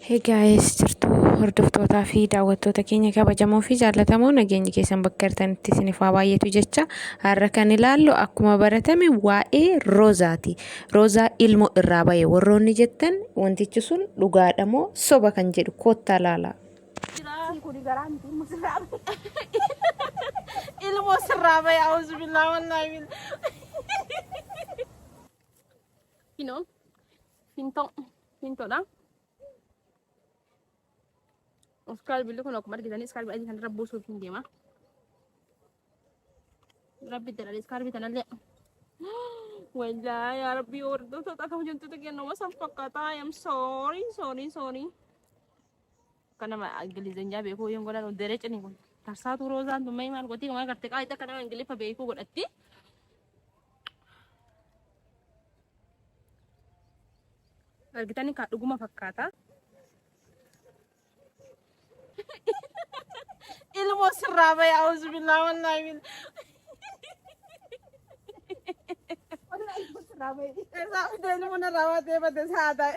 Hey guys jirtu hordoftootaa fi daawwattoota keenya kabajamoo fi jaallatamoo nageenyi keessan bakka jirtanitti isiniif haa baay'atu jecha har'a kan ilaallu akkuma baratame waa'ee roozaati. Roozaa ilmoo irraa ba'e warroonni jettan wantichi sun dhugaadha moo soba kan jedhu koottaa laala. ilmoo sirraa ba'e auzu billaa wallaahi bil Finoo. Fintoo. Hin tola. Iskaal billi kun akkuma argitanii iskaal billi kan irra buusuuf hin deema. Rabbi jedhanii iskaal bitanallee. Wallaahi yaa rabbi hordoftoota akka hojjettoota kennuma san fakkaataa. I am sorry sorry sorry. Akka nama Ingilizanyaa beekuu hin godhan deree cini kun. Tarsaatuu roozaan tun maal gotii maal garte qaa itti akka nama Ingiliffa beekuu godhatti. Argitanii kaa dhuguma fakkaata. Ilmoo sirraa bahe auzu billaa wallaahi billaa. Irraa fidee ilmoo narraa baatee bate saa ta'e.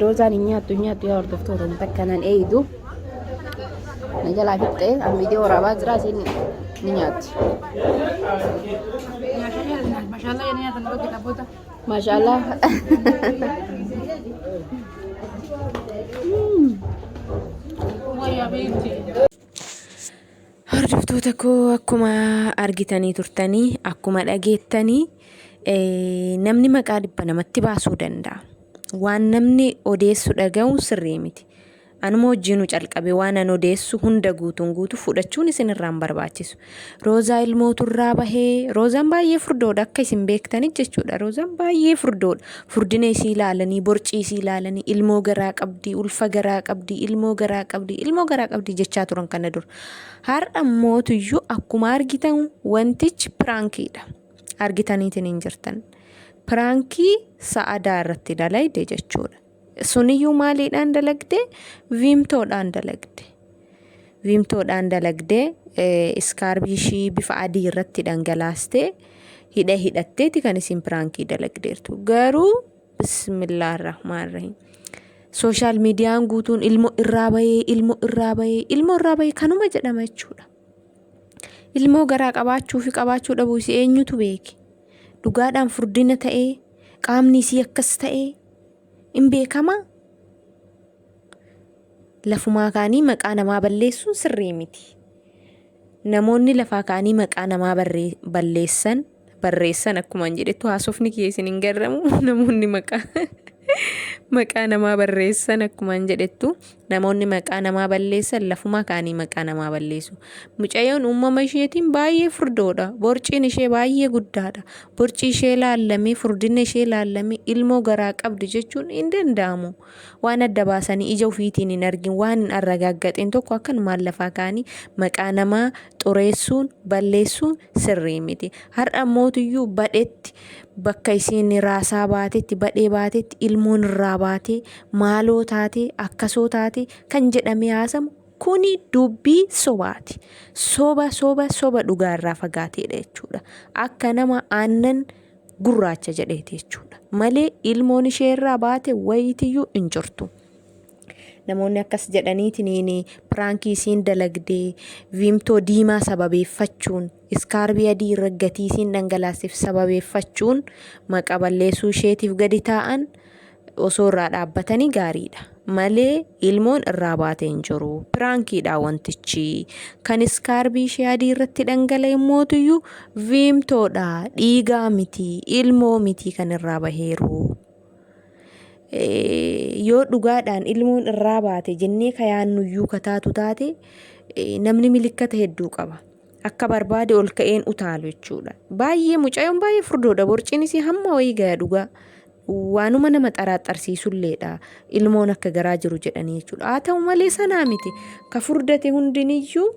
Roozaan hin nyaattu hin nyaattu yaa hordoftoota hin takka nan eeydu. Na jalaa fixxee an viidiyoo waraabaa jira isin ni nyaatti. Mashallah ya niya tanong kita buta. Maashaallah. Waya binti. Hordoftoota koo akkuma argitanii turtanii akkuma dhageettanii eh, namni maqaa dhibba namatti baasuu danda'a. Waan namni odeessu dhaga'uun sirrii miti. Anuma wajjinu calqabe waan an odeessu hunda guutuun guutu fudhachuun isin irraan barbaachisu. Roozaa ilmootu irraa bahee roozaan baay'ee furdoodha akka isin beektani jechuudha. Roozaan baay'ee furdoodha. Furdina isii ilaalanii, borcii isii ilaalanii, ilmoo garaa qabdi, ulfa garaa qabdi, ilmoo garaa qabdi, ilmoo garaa qabdi jechaa turan kana dura. Har'a mootuyyuu akkuma argitan wantichi piraankiidha. argitaniitiin hin jirtan piraankii sa'adaa irratti dalayde jechuudha suniyyuu maaliidhaan dalagde viimtoodhaan dalagde viimtoodhaan dalagde iskaarbii ishii bifa adii irratti dhangalaaste hidha hidhatteeti kan isin piraankii dalagdeertu garuu bismillah rahmaan rahim sooshaal miidiyaan guutuun ilmo irraa bahee ilmo irraa bahee ilmo irraa bahee kanuma jedhama jechuudha. Ilmoo garaa qabaachuu fi qabaachuu dhabuu isii eenyutu beeke? Dhugaadhaan furdina ta'ee qaamni isii akkas ta'ee in beekama? Lafumaa kaanii maqaa namaa balleessuun sirrii miti. Namoonni lafaa kaanii maqaa namaa balleessan barreessan akkumaan jedhettu haasofni kiyya isin hin garramu namoonni maqaa maqaa namaa barreessan akkumaan jedhettu namoonni maqaa namaa balleessan lafumaa ka'anii maqaa namaa balleessu. Mucayyoon uumama isheetiin baay'ee furdoodha. Borciin ishee baay'ee guddaadha. Borcii ishee laallamee furdinna ishee laallamee ilmoo garaa qabdi jechuun hin danda'amu. Waan adda baasanii ija ufiitiin hin argin, waan hin arragaaggaxin tokko akkanumaan lafaa ka'anii maqaa namaa xureessuun, balleessuun sirrii miti. Har'a ammootiyyuu badhetti bakka isiin raasaa baatetti, badhee baatetti, ilmoon irraa baatee, maaloo taatee, akkasoo taatee kan jedhamee haasamu kuni dubbii sobaati. Soba soba soba dhugaa irraa fagaateedha jechuudha. Akka nama aannan gurraacha jedheeti jechuudha. Malee ilmoon ishee irraa baate wayitiyyuu hin jirtu. Namoonni akkas jedhaniitiin piraankii isiin dalagdee viimtoo diimaa sababeeffachuun iskaarbii adii irra gatii isiin dhangalaasif sababeeffachuun maqa balleessuu isheetiif gadi taa'an osoo irraa dhaabbatanii gaariidha. Malee ilmoon irraa baatee hin jiru. Piraankiidha wantichi. Kan iskaarbii ishee adii irratti dhangala'e mootuyyuu viimtoodha. Dhiigaa miti. Ilmoo miti kan irraa baheeru. Yoo dhugaadhaan ilmoon irraa baate jennee ka yaannuyyuu ka taatu taate namni milikkata hedduu qaba. akka barbaade ol ka'een utaalu jechuudha. Baay'ee mucayoon baay'ee furdoodha borciin isii hamma wayii gaya dhugaa. Waanuma nama xaraaxarsiisulleedha ilmoon akka garaa jiru jedhanii jechuudha. Haa ta'u malee sanaa miti ka furdate hundiniyyuu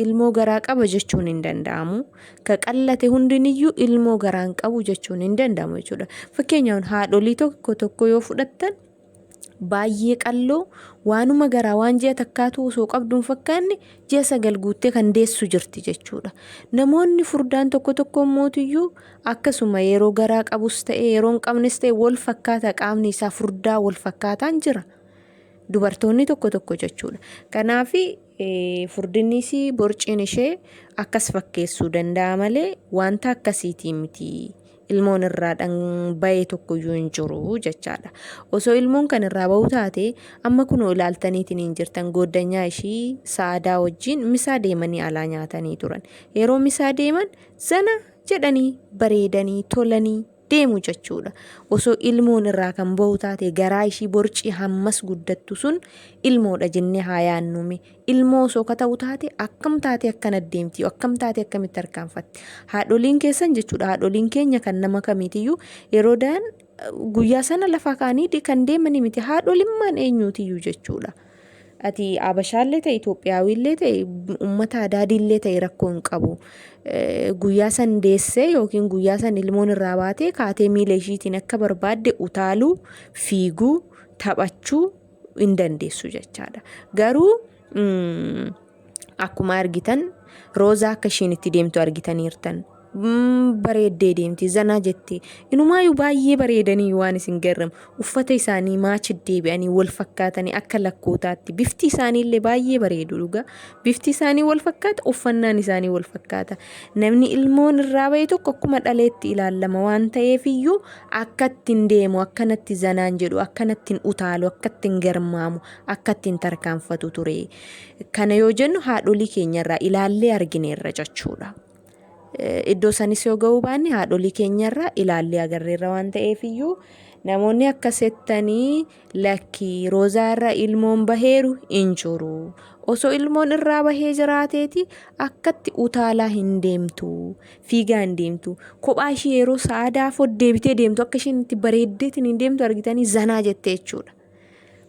ilmoo garaa qaba jechuun hin danda'amu. Ka qallate hundiniyyuu ilmoo garaa hin qabu jechuun hin danda'amu jechuudha. Fakkeenyaaf haadholii tokko tokko yoo fudhattan baay'ee qalloo waanuma garaa waan ji'a takkaatu osoo qabduun fakkaanne ji'a sagal guuttee kan deessu jirti jechuudha. Namoonni furdaan tokko tokko immootiyyuu akkasuma yeroo garaa qabus ta'e yeroo hin qabnes ta'e wal fakkaata qaamni isaa furdaa wal fakkaataan jira. Dubartoonni tokko tokko jechuudha. Kanaaf Furdinni isii borciin ishee akkas fakkeessuu danda'a malee wanta akkasiitii miti. Ilmoon irraa dhan bayee tokkoyyuu hin jiru jechaadha. Osoo ilmoon kan irraa bahuu taate amma kunoo ilaaltaniitiin hin jirtan gooddanyaa ishii sa'aadaa wajjin misaa deemanii alaa nyaatanii turan. Yeroo misaa deeman zana jedhanii bareedanii tolanii deemu jechuudha. Osoo ilmoon irraa kan bahu taate garaa ishii borcii hammas guddattu sun ilmoodha jennee haa yaannume. Ilmoo osoo ka ta'u taate akkam taate akkan addeemti akkam taate akkamitti harkaanfatti. Haadholiin keessan jechuudha haadholiin keenya kan nama kamiitiyyuu yeroo daan guyyaa sana lafaa ka'anii kan deemanii miti haadholimmaan eenyuutiyyuu jechuudha. Ati Abashaallee ta'e Itoophiyaawiillee ta'e uummata Adaadiillee ta'e rakkoo hin qabu. Guyyaa san deessee yookiin guyyaa san ilmoon irraa baatee kaatee miila ishiitiin akka barbaadde utaaluu, fiiguu, taphachuu hin dandeessu jechaadha. Garuu Akkuma argitan Roozaa akka ishiin itti deemtu argitaniirtan. Mm, Bareeddee deemti, zanaa jette. Inumaayyuu baay'ee bareedanii waan isin garramu. Uffata isaanii maachi deebi'anii wal fakkaatanii akka lakkootaatti. Bifti isaanii illee baay'ee bareedu dhugaa. Bifti isaanii wal fakkaata, uffannaan isaanii wal fakkaata. Namni ilmoon irraa ba'e tokko akkuma dhaleetti ilaalama waan ta'eef iyyuu akkatti hin deemu, akkanatti zanaan jedhu, akkanatti hin utaalu, akkatti hin garmaamu, akkatti hin tarkaanfatu ture. Kana yoo jennu haadholii keenyarraa ilaallee argineerra jechuudha. Iddoo sanis yoo ga'uu baanne haadholii keenyarraa ilaallee agarreerra waan ta'eef iyyuu namoonni akka settanii lakkii roozaarra ilmoon baheeru hin jiru. Osoo ilmoon irraa bahee jiraateeti akkatti utaalaa hin deemtu fiigaa hin deemtu kophaa ishii yeroo sa'aadaa fod deebitee deemtu akka isheen itti bareeddeetiin hin deemtu argitanii zanaa jettee jechuudha.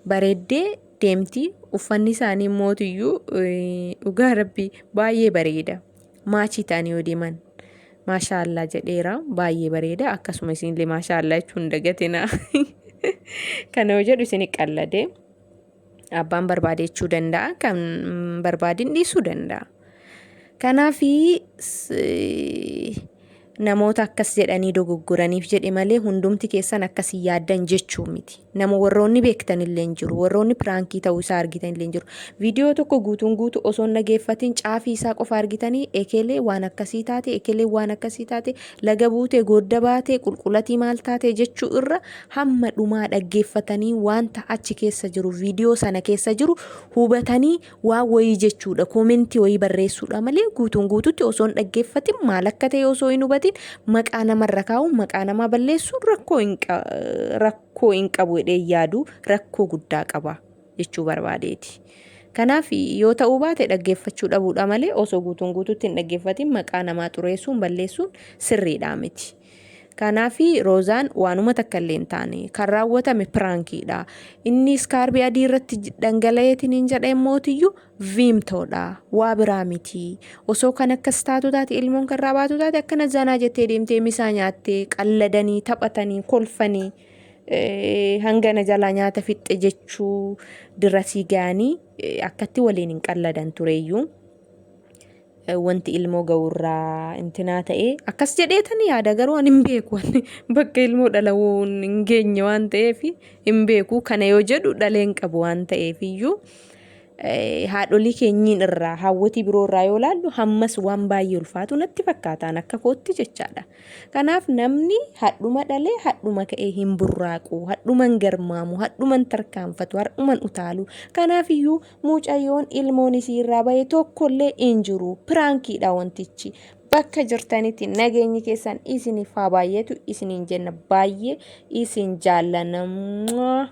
bareeddee deemti uffanni isaanii mootiyyuu dhugaa rabbi baay'ee bareeda maachii ta'anii yoo deeman maashaallaa jedheera baay'ee bareeda akkasuma isinillee maashaallaa jechuun dagatina kana yoo jedhu isin qallade abbaan barbaade jechuu danda'a kan barbaadin dhiisuu danda'a. Kanaaf namoota akkas jedhanii dogoggoraniif jedhe malee hundumti keessan akkas hin yaaddan jechuu miti. Nama warroonni beektan illee hin jiru. Warroonni piraankii ta'uu isaa argitan illee hin jiru. Viidiyoo tokko guutuun guutu osoo hin dhageeffatiin caafii isaa qofa argitanii ekelee waan akkasii taate ekelee waan akkasii taate laga buutee goodda baatee qulqulatii maal taate jechuu irra hamma dhumaa dhaggeeffatanii wanta achi keessa jiru viidiyoo sana keessa jiru hubatanii waa wayii jechuudha koomentii wayii barreessuudha malee guutuun guututti osoo hin dhaggeeffatin maal akka ta'e osoo hin hubatin maqaa namarra kaa'u maqaa namaa balleessuun rakkoo hin qa- rakkoo hin qabu jedhee yaadu rakkoo guddaa qaba jechuu barbaadeeti. Kanaaf yoo ta'uu baate dhaggeeffachuu dhabuudha malee osoo guutuun guututti hin dhaggeeffatin maqaa namaa xureessuun balleessuun sirriidhaa miti. Kanaafi Roozaan waanuma takka illee hin taane. Kan raawwatame piraankiidha. Inni iskaarbii adii irratti dhangala'eetiniin jedhee mootiyyuu viimtoodha. Waa biraa miti. Osoo kan akkas taatu taate ilmoon kan irraa baatu taate akkana zanaa jettee deemtee misaa nyaattee qalladanii taphatanii kolfanii hangana jalaa nyaata fixxe jechuu dirasii ga'anii akkatti waliin hin qalladan tureeyyuu. wanti ilmoo ga'urraa intinaa ta'ee akkas jedheetan yaada garuu an hin beeku bakka ilmoo dhalawuun hin geenye waan ta'eef hin beeku kana yoo jedhu dhaleen qabu waan ta'eef iyyuu haadholii keenyiin irraa hawwatii biroo irraa yoo laallu hammas waan baay'ee ulfaatu natti fakkaataan akka kootti jechaadha. Kanaaf namni hadhuma dhalee hadhuma ka'ee hin burraaqu, hadhuman garmaamu, hadhuman tarkaanfatu, hadhuman utaalu. Kanaaf iyyuu Mucayyoon ilmoon isii irraa bahe tokkollee hin jiru. Piraankiidha wantichi. Bakka jirtanitti nageenyi keessan isiniif haa baay'atu isiniin jenna baay'ee isin jaallanna.